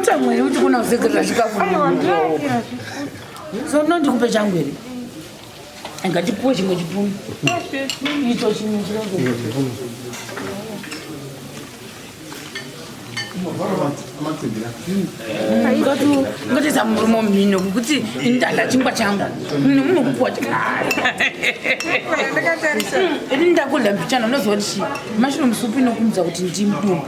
Tamwari kuti kuna uzekerera chikafu so no ndikupe changu here ngatipuwe chimwe chipunu icho chimwe chirongo ngatiza murume mhino kuti ndala chingwa changu nemunhu kupuwa ini ndakulambichana unoziva kuti mashinomusupi inokumbidza kuti ndimdumbu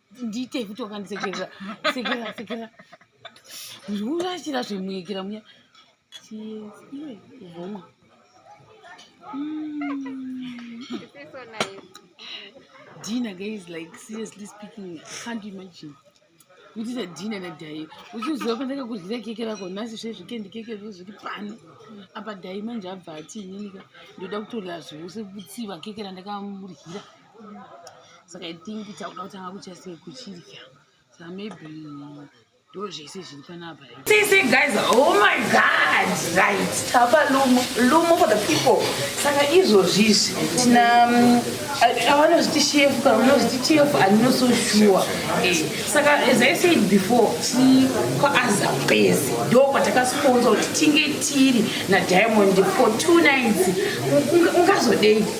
ndiite futi wakandisekerera sekera sekera urachira zvemuyekera muya vomwa Dina guys like seriously speaking can't imagine kuitisa dhina nadhai uchiziva pandaka kuryira keke rako nhasi zve zvikendi keke zvo zviri pano apa dhai manje abva ati inini ka ndoda kutorira zvose kutsiva keke randakamuryira saka i think takuda kutanga kutya sei kuchidya saka maybe ndozvese zviri panapa sisi guys oh my god right tapa lumo lumo for the people saka izvozvizvi tina mm, avanozviti shefu kana vanozviti chefu andino so sure eh, saka as i said before ti kwaazapezi ndo kwatakasponsa kuti tinge tiri nadiamond for two nights ungazodei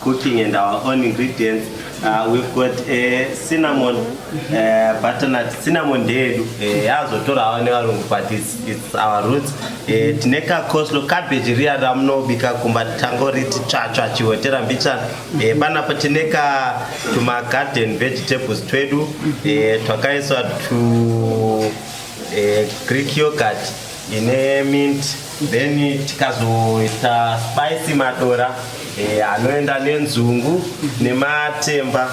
cooking and our own ingredients uh, we've got a uh, cinnamon uh, butternut cinnamon ndeyedu eh, yazotora uh, nevarungu but it's, it's our roots uh, tine kakoslo cabbage riya ramunobika kumba tangoriti tsvatsva chihotera mbichana uh, panapo tine ka tumagarden vegetables twedu uh, twakaiswa tu uh, greek yogurt ine mint then tikazoita spicy madora eh, anoenda nenzungu nematemba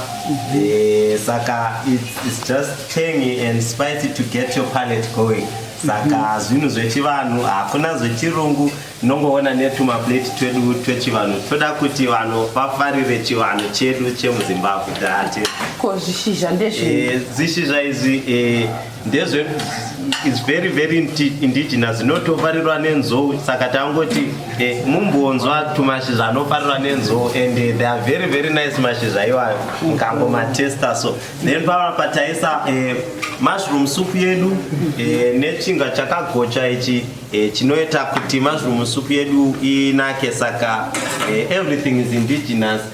eh, saka it's just tangy and spicy to get your palate going saka zvinhu zvechivanhu hakuna zvechirungu nongoona netumaplate twedu twechivanhu toda kuti vanhu vafarire chivanhu chedu chemuzimbabwe date ko zvishizha ndezvizvizha eh, izvi eh, ndezve is very very indigenous inotofarirwa nenzou saka tangoti eh, mumbonzwa tumashizha anofarirwa nenzou and eh, they are very very nice mashizha iwayo ngango matesta so then pava pataisa eh, mushroom soup yedu eh, nechinga chakagocha ichi eh, chinoita kuti mushroom soup yedu inake saka eh, everything is indigenous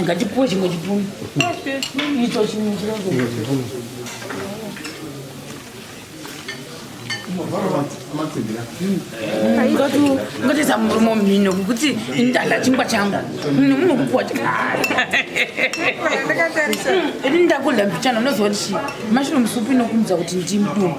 ngatipuwe chimwe chipunu icho chimwe ngatiza murume womhino kukuti indala chingwa changu nemunhu kupuwa ini ndakudla mbichana unoziva kuti mashinomusupu inokumudza kuti ndimdumbu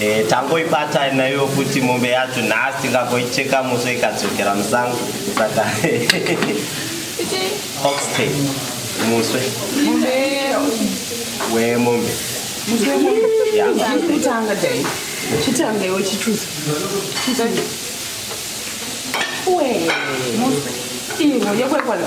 Eh, tangoibata nayo kuti mombe yacho nhasi tingagoicheka muso ikadzokera musango saka oxtay muswe wemombe kutanga dai chitanga iwe chichuzi iwe yekwekwana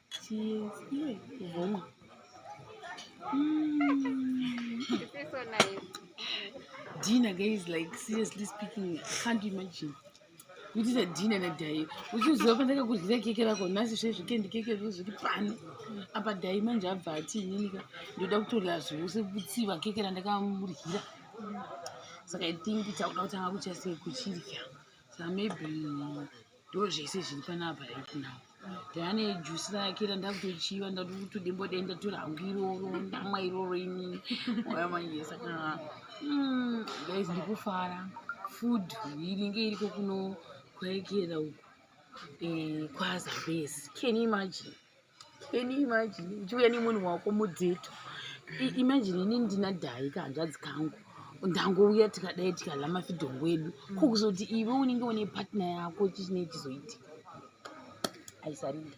Cheers. Iwe kuvoma. Mm. so nice. Dinner guys like seriously speaking can't imagine. We did a dinner na dai. Uchiziva pandaka kudyira keke rako nhasi zve zvikendi keke zvo zviri pano. Apa dai manje abva ati inini ka ndoda kutorira zvose kutsiva keke randakamuryira. Saka I think takuda kutanga kuchase kuchirya. Saka maybe ndo zvese zviri panapa right now ndane jusi rake randakutochiva ndatotodenbode ndatora hangu iroro ndamwa iroro ini oya manje saka hmm, guys ndikufara food iringe iriko kuno kwaekera uku eh, kwazambezi can imagine Can you imagine uchiuya nemunhu wako mudzeto imagine ini ndina dhayi kahanzvadzi kangu ndangouya tikadai tikadla mafidhongo edu mm. ko kuzoti iwe unenge une partner yako chichinei chizoitika aisarinda